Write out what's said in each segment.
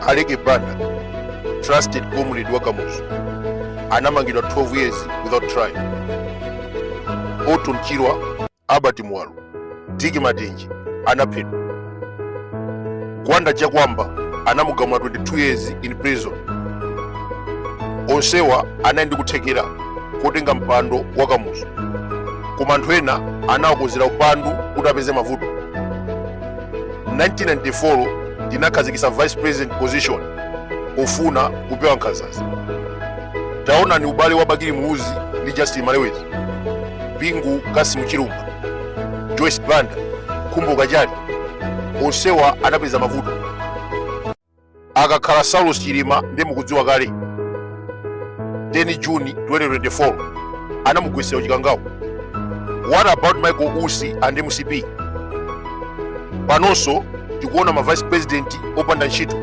aleke banda trusted comrade wa kamuzu anamangidwa 12 years without trial orton chirwa albert muwalo dick matenje anaphedwa gwanda chakuamba anamugamula 22 years in prison onsewa anali ndi kuthekera kotenga mpando wa kamuzu koma anthu ena anawakonzera upandu kuti apeze mavuto 1994 tinakhazikitsa vice president position pofuna kupewa nkhanzazi taonani ubale wa bakili muluzi ndi justin malewezi bingu cassim chilumpha joyce banda khumbo kachali onsewa anapeza mavuto akakhala Saulos Chilima ndi mukudziwa kale 10 June 2024 anamugwetsera ku chikangawa what about Michael Usi and MCP panonso tikuona ma vice president opanda ntchito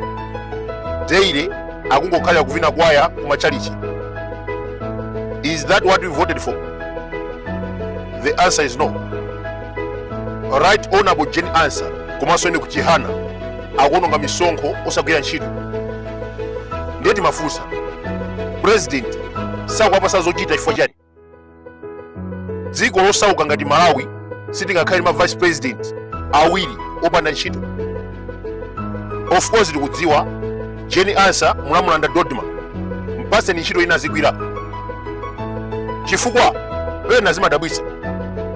daily akungokhalira kuvina kwaya kumachalichi is that what we voted for the answer is no right honorable jane ansah komanso enoch chihana akuononga misonkho osagwira ntchito ndiye timafunsa president sakuwapasa zochita chifukwa chani dziko losauka ngati malawi sitingakhale ndi ma vice president awiri opanda ntchito of course tikudziwa jane ansah munamulanda dodma mpaseni ntchito ina azigwira chifukwa pena zimadabwitsa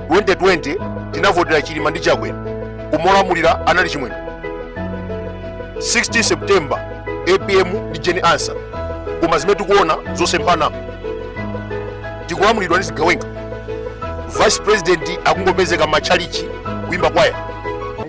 2020 tinavotera chilima ndi chakwera koma olamulira anali chimwendo 16 september apm ndi jane ansah koma zimene tikuona zosemphana tikulamulidwa ndi zigawenga vice president akungopezeka matchalichi kuimba kwaya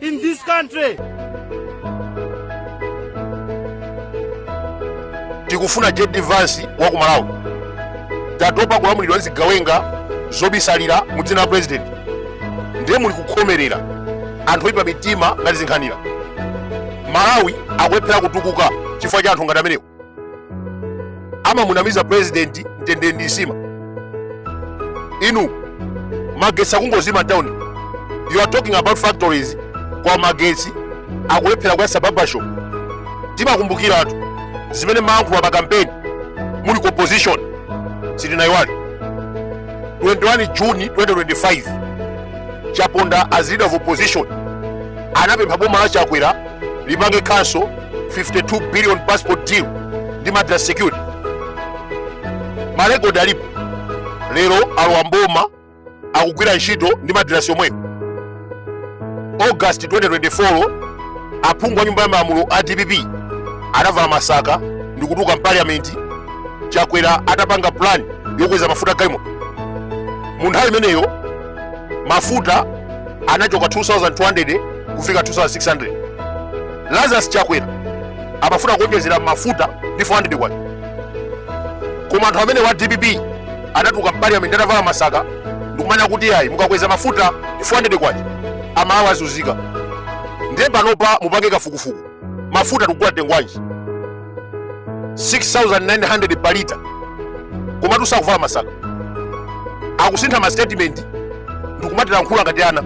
in this country. tikufuna jd vance wa ku malawi tatopa kulamulidwa ndi zigawenga zobisalira mu dzina la president ndiye muli kukhomerera anthu oyipa mitima ngati zinkhanira malawi akulephera kutukuka chifukwa cha anthu ngati amenewo amamunamiza president mtendere ndi nsima inu magetsi akungozima town you are talking about factories koma magetsi akulephera kuyasa barbershop timakumbukiratu zimene mumayankhula pa kampeni muli ku opposition sitinayiwale 21 juni 2025 chaponda as leader of opposition anapempha boma la chakwera lipange cancel 52 billion passport deal ndi madras security marekodi alipo lero alowa mboma akugwira ntchito ndi madirasi yomweyo august 2024 aphungu a nyumba ya malamulo a dpp anavala masaka ndi kutuluka mpaliyamenti chakwera atapanga plan yokweza mafuta galimoto mu nthawi imeneyo mafuta anachoka 2200 kufika 2600 lazarus chakwera amafuna kuonjezera mafuta ndi 400 kwacha koma anthu amenewa a dpp anatuluka mpaliyamenti atavala masaka ndikumanena kuti ayi mukakweza mafuta ndi 400 kwacha amalawi azunzika ndiye panopa mupange kafukufuku mafuta tikugula mtengo wanji 6900 pa lita komatu sakuvala masaka akusintha ma statement ndikumatilankhula ngati ana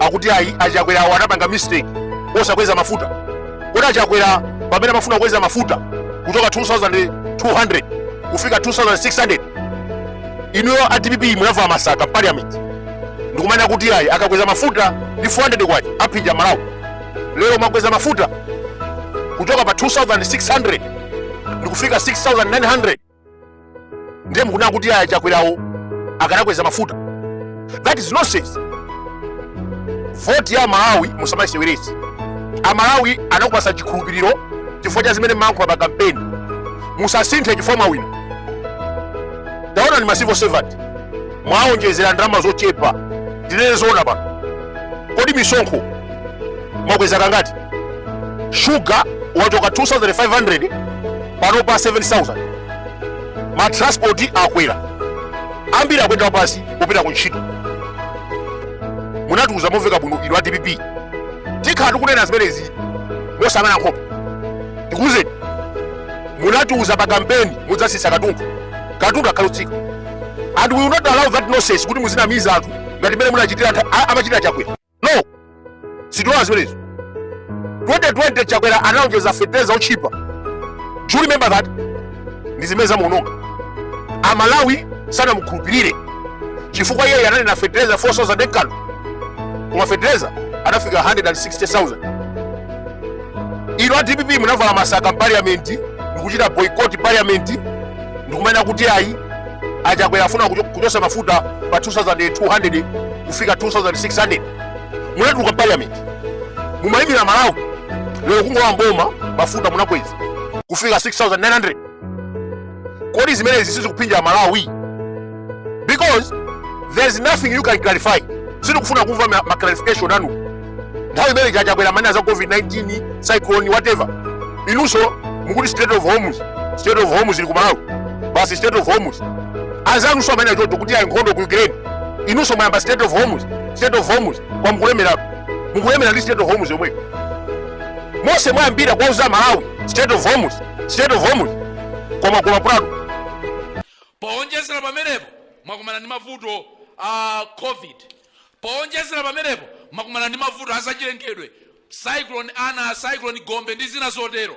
akuti ayi achakwerawo anapanga mistake posakweza mafuta kodi achakwera pamene amafuna kukweza mafuta kuchoka 2200 kufika 2600 inuyo a dpp munavala masaka parliament ndikumanena kuti ayi akakweza mafuta ndi 400 kwacha aphinja amalawi lero mwakweza mafuta kuchoka pa 2600 ndikufika 6900 ndiye mukunena kuti ayi achakwerawo akanakweza mafuta that is nonsense voti ya amalawi musamayiseweretse amalawi anakupasa chikhulupiriro chifukwa cha zimene mumalankhula pa kampeni musasinthe chifukwa mwawina taonani ma civil servant mwaonjezera ndalama zochepa ndinene zoona pano kodi misonkho mwakweza kangati shuga wachoka 2500 pano pa 7000 matranspoti akwera ambiri akuyenda wapansi kupita ku ntchito munatiuza momveka bwino inu a dpp tikhala tikunena zimenezi mosayang'ana nkhope tikuuzeni munatiuza pa kampeni mudzatsitsa katundu katundu akhale otsika and we will not allow that nonsense kuti muzinamiza anthu ngati mmene munachitira a- amachitira chakwera no sitilola zimenezo 2020 chakwera analonjeza fetereza otchipa do you remember that ndi zimene zamuononga amalawi sanamukhulupirire chifukwa iyeyo ananena fetereza 4000 ekano koma fetereza anafika 160000 inu a dpp munavala masaka mpaliyamenti ndikuchita boycott parliament ndikumanena kuti ayi achakwera afuna kuchotsa mafuta pa 2200 kufika 2600 munatuluka parliament mumayimira amalawi lero kungolowa mboma mafuta munakweza kufika 6900 kodi zimenezi sizikuphinja amalawi because there's nothing you can clarify sitikufuna kumva ma clarification anu nthawi imene Chakwera amanena za covid-19 cyclone whatever inunso mukuti Strait of Hormuz Strait of Hormuz ili ku malawi basi Strait of Hormuz anzanunso amanena choncho kuti ayi nkhondo ku ukraine inunso mwayamba Strait of Hormuz Strait of Hormuz koma mukulemeratu mukulemera ndi Strait of Hormuz yomweyo mose mwayambira kuwauza aMalawi Strait of Hormuz Strait of Hormuz koma koma prado powonjezera pamenepo mwakumana ndi mavuto a covid Powonjezera pamenepo, mwakumana ndi mavuto a zachilengedwe, cyclone Ana, cyclone Gombe ndi zina zotero.